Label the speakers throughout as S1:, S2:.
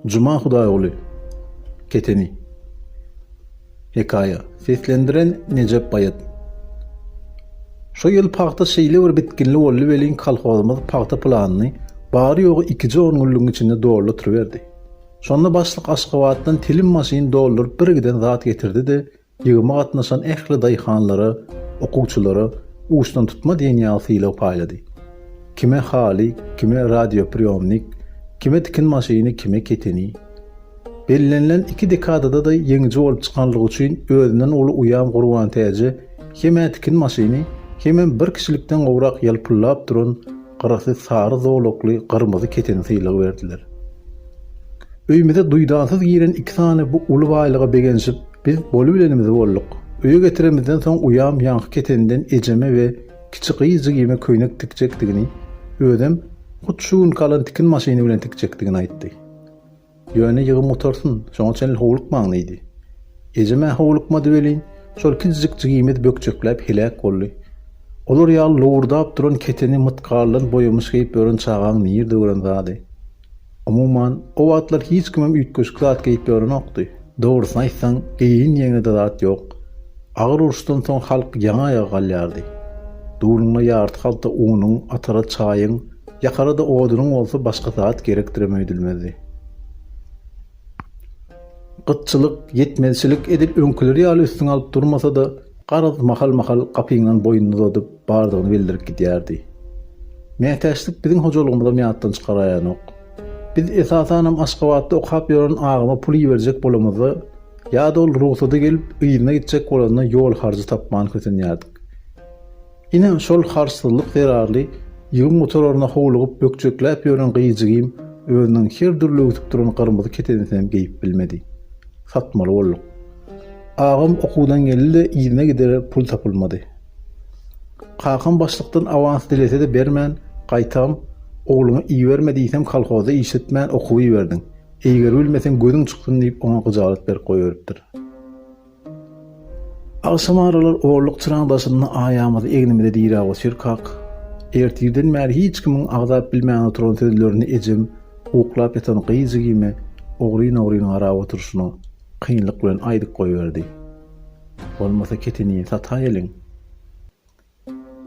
S1: Juma Hudaýguly Keteni Hekaýa Seslendiren, Nejep Baýat Şu ýyl pagta şeýle bir bitginli boldy welin kolhozymyz pagta planyny bary-ýogy ikije on günlügiň içinde dolduryberdi. Şonda başlyk Aşgabatdan telim maşyn dolduryp birgiden zat getirdi-de, Ýygyma gatnaşan ähli daýhanlara, okuwçylara uçdantutma diýen ýaly sylag paýlady. Kime haly, kime radiopriýomnik, kime tikin maşyny, kime keteni. Bellenilen iki dekadada-da ýeňiji bolup çykanlygy üçin özünden uly uýam Gurbantäje hem-ä tikin maşyny, hemem bir kişilikden gowrak ýalpyldap duran gyrasy sary zolakly gyrmyzy keteni sylag berdiler. Öýümize duýdansyz giren iki sany bu uly baýlyga begenişip, Biz bolubilenimizi bolduk. Öýe getiremizden soň uýam ýaňky keteninden ejeme we kiçi gyz jigime köýnek tikjekdigini, özem hut şu günki alan tikin maşyny bilen tikjekdigini aýtdy. Ýöne ýygym gutarsyn, şoňa çenli howlukmaň diýdi. Ejem-ä howlukmady welin, şol kiçijik jigimiz bökjekläp heläk boldy. Olar ýaly lowurdap duran keteni mytgaldan boýamyş geýip ýören çagaň nirde gören zady? Umuman, o wagtlar hiç kimem üýtgeşik zat geýip ýörenokdy. Dogrusyny aýtsaň, geýinýeňe-de zat ýok. Agyr uruşdan soň halk ýaňy-aýaga galýardy. Duluňa ýarty halta unuň, atara çaýyň, ýakara-da odunyň bolsa başga zat gerekdirem öýdülmezdi. Gytçylyk, ýetmezçilik edil öňküleri ýaly üstüňe alyp durmasa-da, garaz, mahal-mahal gapyňdan boýnuny uzadyp, bardygyny bildirip gidýärdi. Mätäçlik biziň hojalygymyzam ýatdan çykaraýanok. Biz, esasanam, Aşgabatda okap ýören agama pul iberjek bolamyzda, ýa-da ol rugsady gelip, yzyna gitjek bolanda ýol harjy tapman kösenýärdik. Ine, şol harçsyzlyk zerarly ýügüň gutararyna howlugyp bökjekläp ýören gyýjigim özüniň her dürli öwsüp duran gyrmyzy ketenisinem geýip bilmedi. Satmaly bolduk. Agam okuwdan geldi-de yzyna gider pul tapylmady. Kakam başlykdan awans dilese-de bermän, gaýtam, Ogluňy iberme diýsem kolhozda işletmän okuw iberdiň. Eýgeribilmeseň gözüň çyksyn diýip oňa gyjalat berip goýberipdir. Agşam aralar orluk çyraň daşynda aýamyzy egnimize diräp otyrkak, ertirden bäri hiç kimiň agzap bilmän oturan sözlerini ejem uklap ýatan gyz jigime ogryn-ogryn garap oturyşyna kynlyk bilen aýdyp goýberdi. Bolmasa ketini sataýeliň.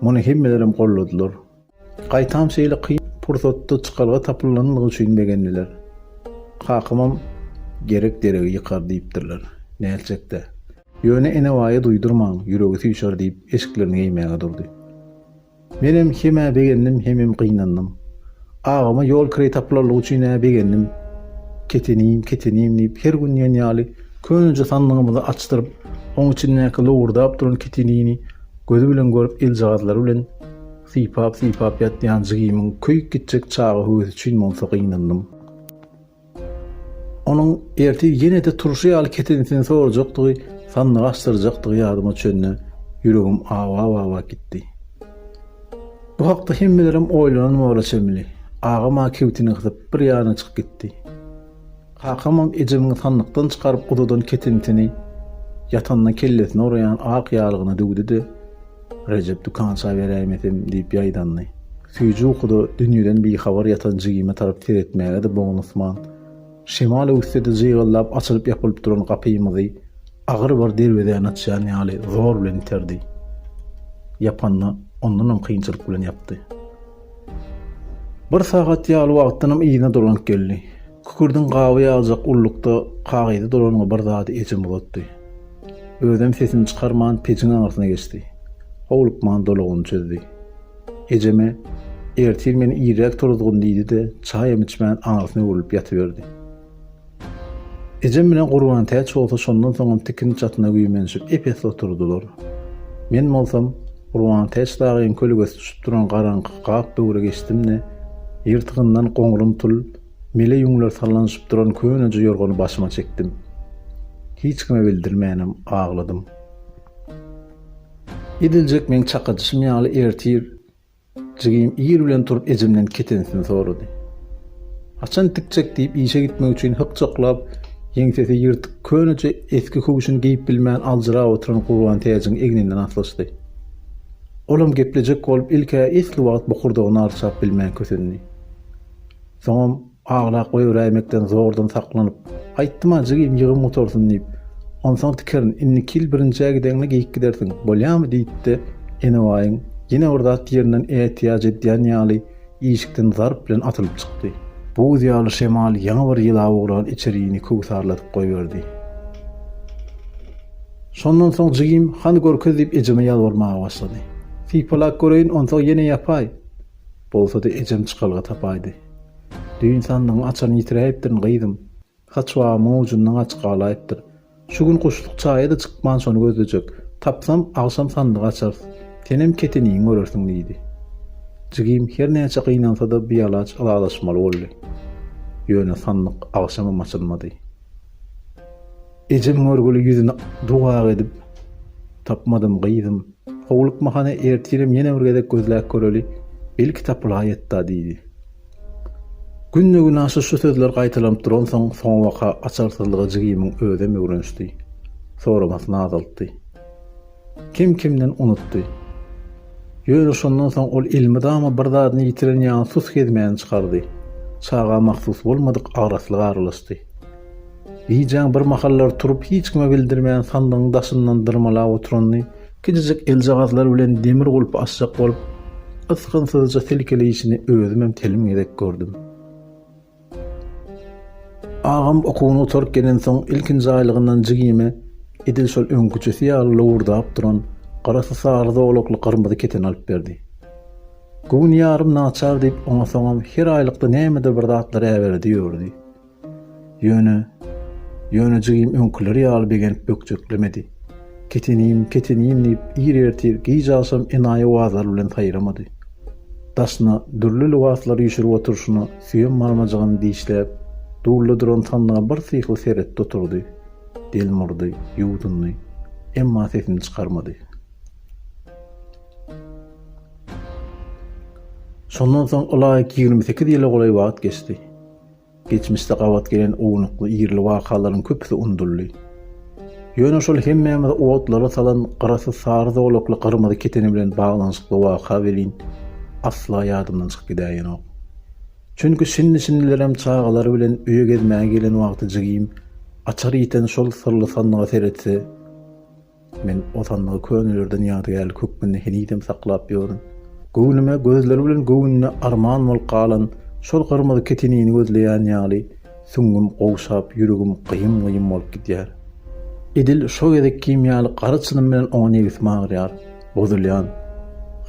S1: Muny hemmelerem golladylar. Gaýtam şeýle kyn pursatda çykalga tapylanlygy üçin begendiler. Kakamam Gerek deregi ýykar diýipdirler. Nätjek-dä. Ýöne Enebaýa duýdurmaň, ýüregi süýşer diýip, eşiklerini geýmäge durdy. Menem hemä begendim hemem gynandym. Agama ýol kireý tapylanlygy üçin-ä begendim. Ketenim, ketenim diýip, her gün diýen ýaly köneje sandygymyzy açdyryp, oň içindäki lowurdap duran ketenini gözi bilen görüp eljagazlary bilen sypap-sypap ýatýan jigimiň köýüp gitjek çaga höwesi üçin monsa gynandym. Onuň ertir ýene-de turşy ýaly ketenisini sorajakdygy, sandygy açdyrjakdygy ýadyma düşende, ýüregim awa-awa gitdi. Bu hakda hemmelerem oýlanan bola çemli. Agam-a kibtini gysyp, bir ýana çykyp gitdi. Kakamam ejemiň sandykdan çykaryp uzadan ketenisini ýatanda kellesine uraýan ak ýalygyna döwdi-de, Rejep dükança beräýmedim diýip ýaýdandy. Süýji ukuda dünýeden bihabar ýatan jigime tarap seretmäge-de bognusman, şemal öwüsde-de jygyldap açylyp-ýapylyp duran gapymyzy agyr bir derwezäni açýan ýaly zor bilen iterdi. Ýapanda ondanam kynçylyk bilen ýapdy. Bir sagat ýaly wagtdanam yzyna dolanyp geldi. Kükürdiň gaby ýaljak ullukda kagyzy duranyňa bir zady ejem uzatdy. Özem sesini çykarman pejiň aňyrsyna geçdi. Howlukman dolagyny çözdi. Ejeme, Ertir meni irräk turuzgyn diýdi-de, çaýam içmän aňyrsyna öwrülip ýatyberdi. Ejem bilen Gurbantäç bolsa şondan soňam tikin çatyna güýmenişip ep-esli oturdylar. Men bolsam, Gurbantäç dagyň kölgesi düşüp duran garaňky gap böwre geçdim-de, ýyrtygyndan goňrym tul, Mele ýüňler sallanyşyp duran köneje ýorgany başyma çekdim. Hiç kime bildirmänem agladym. Ediljek meň çakadyşym ýaly ertir jigim ir bilen turup ejemden ketensini sorady. Haçan tikjek diýip işe gitmek üçin hykjaklap, ýeňsesi ýyrtyk köneje esgi köwşüni geýip bilmän aljyrap oturan Gurbantäjiň egninden aslyşdy. Olam geplejek bolup ilk-ä esli wagt bokurdagyny arçap bilmän kösendi. Soňam aglap goýberäýmekden zordan saklanyp, Aýtdym-a, jigim, ýygym gutarsyn diýip. Onsoň tikerin, indiki ýyl birinjä gideňde geýip gidersiň, bolýamy? diýdi-de, Enebaýyň ýene bir zat diýeninden ätiýaç edýän ýaly, işikden zarp bilen atylyp çykdy. Buz ýaly şemal ýaňy bir ýylap ugran içerini köwsarladyp goýberdi. Şondan soň jigim, hany görkez diýip ejeme ýalbarmaga başlady. Sypalak göreýin, onsoň ýene ýapaý. Bolsa-da ejem çykalga tapaýdy. Düýn sandygyň açaryny ýitiräýipdirin, gyzym. Haç wagymyň ujundan gaçyp galaýypdyr. Şu gün guşluk çaýa-da çykman şony gözlejek. Tapsam, agşam sandygy açarys. Senem keteniňi görersiň, diýdi. Jigim her näçe gynansa-da bialaç ylalaşmaly boldy. Ýöne sandyk agşamam açylmady. Ejem görgüli ýüzüni duw-ak edip, Tapmadym, gyzym. Howlukmahana ertirem ýene bir gezek gözläp göreli, belki tapylaýýet-da diýdi. Günde-günaşa şu sözler gaýtalanyp duransoň, soňabaka açarsyzlyga jigimiň özem öwrenişdi. Soramasyny azaltdy. Kim kimden unutdy. Ýöne şondan soň ol elmydama bir zadyny ýitiren ýaly sus gezmäni çykardy. Çaga mahsus bolmadyk agraslyk aralaşdy. Lijan birmahallar turup hiç kime bildirmän sandygyň daşyndan dyrmalap oturanyny, kijijik eljagazlary bilen demir gulpy açjak bolup, ysgynsyzja silkeleýşini özümem telim gezek gördüm. Agam okuwyny gutaryp gelensoň ilkinji aýlygyndan jigime edil şol öňküjesi ýaly lowurdap duran garasy-sary zolakly gyrmyzy keten alyp berdi. Göwün ýarym naçar diýip oňa soňam her aýlykda nämedir bir zatlar äberedi ýördi. Ýöne, ýöne jigim öňküleri ýaly begenip bökjeklemedi. Ketenim, ketenim diýip, ir ertir, gije agşam enaýy-owazlar bilen saýramady. Daşyna dürli lybaslary üşürip oturyşyna süýem barmajygyny dişläp, dulda duran sandyga bir syhly seretdi oturdy. Delmurdy, ýuwdundy. Emma sesini çykarmady. Şondan soň ylaýyk ýigrimi sekiz ýyla golaý wagt geçdi. Geçmişde gabat gelen ownukly ýerli wakalaryň köpüsi unudyldy. Ýöne şol hemmämizi otlara salan gyrasy sary zolakly gyrmyzy keteni bilen baglanyşykly waka welin, asla ýadymdan çykyp gidäýenok. Çünki şindi-şindilerem çagalary bilen öýe gezmäge gelen wagty jigim açar ýiten şol syrly sandyga seretse, Men o sandygy könelerden ýadygärlik hökmünde henizem saklap ýörün. Göwnüme gözleri bilen göwnüne arman bolup galan şol gyrmyzy ketenini gözleýän ýaly süňňüm gowşap, ýüregim gyýym-gyýym bolup gidýär. Edil şo gezek kim ýaly gara çynym bilen oňa nebsim agyrýar. Bozulýan.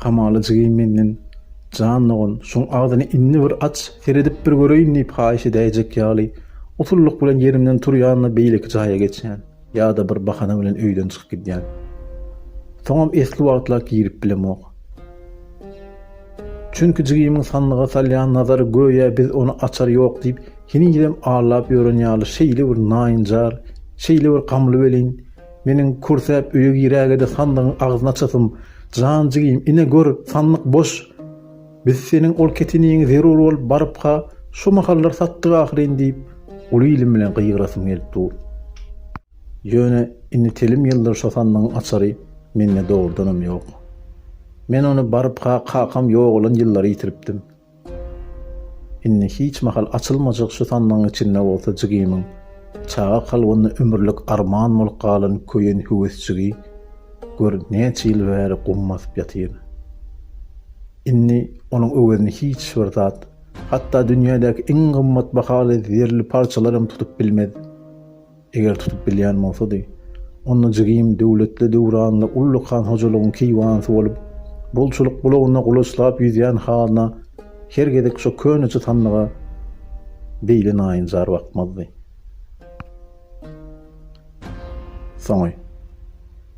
S1: Hamala jigim menden, Jan dogan, şuň agzyny indi bir aç, seredip bir göreýin diýip haýyş edäýjek ýaly, usullyk bilen ýerimden turýan-da beýleki jaýa geçýän. Ýa-da bir bahana bilen öýden çykyp gidýän. Soňam esli wagtlap girip bilemok. Çünki jigimiň sandyga salýan nazary göýä biz ony açar ýok diýip, henizem allap ýören ýaly şeýle bir naýynjar, şeýle bir gamly welin, meniň kürsäp öýe girägede sandygyň agzyny açasym, Jan jigim, ine gör, sandyk boş! Biz seniň ol keteniňi zerur bolup barypka şu mahallar satdyk ahyryn diýip, uly dilim bilen gygyrasym gelip dur. Ýöne indi telim ýyldyr şo sandygyň açary mende dogrudanam ýok. Men ony barypka kakam ýogalan ýyllary ýitiripdim. Indi hiç mahal açylmajak şu sandygyň içinde bolsa jigimiň çaga kalbynda ömürlik arman bolup galan köýen höwesjigi Gör, näçe ýyl bäri gum basyp ýatyr. Indi onuň öwezini hiç bir zat, hatda dünýädäki iň gymmat bahaly zerli parçalar hem tutup bilmez. Eger tutup bilýän bolsady, onda jigim döwletli döwranly uly kan hojalygyň keýwanysy bolup, bolçulyk bulagynda gulaçlap ýüzýän hazyna her gezek şo köneçe sandyga beýle naýynjar bakmazdy. Soňy.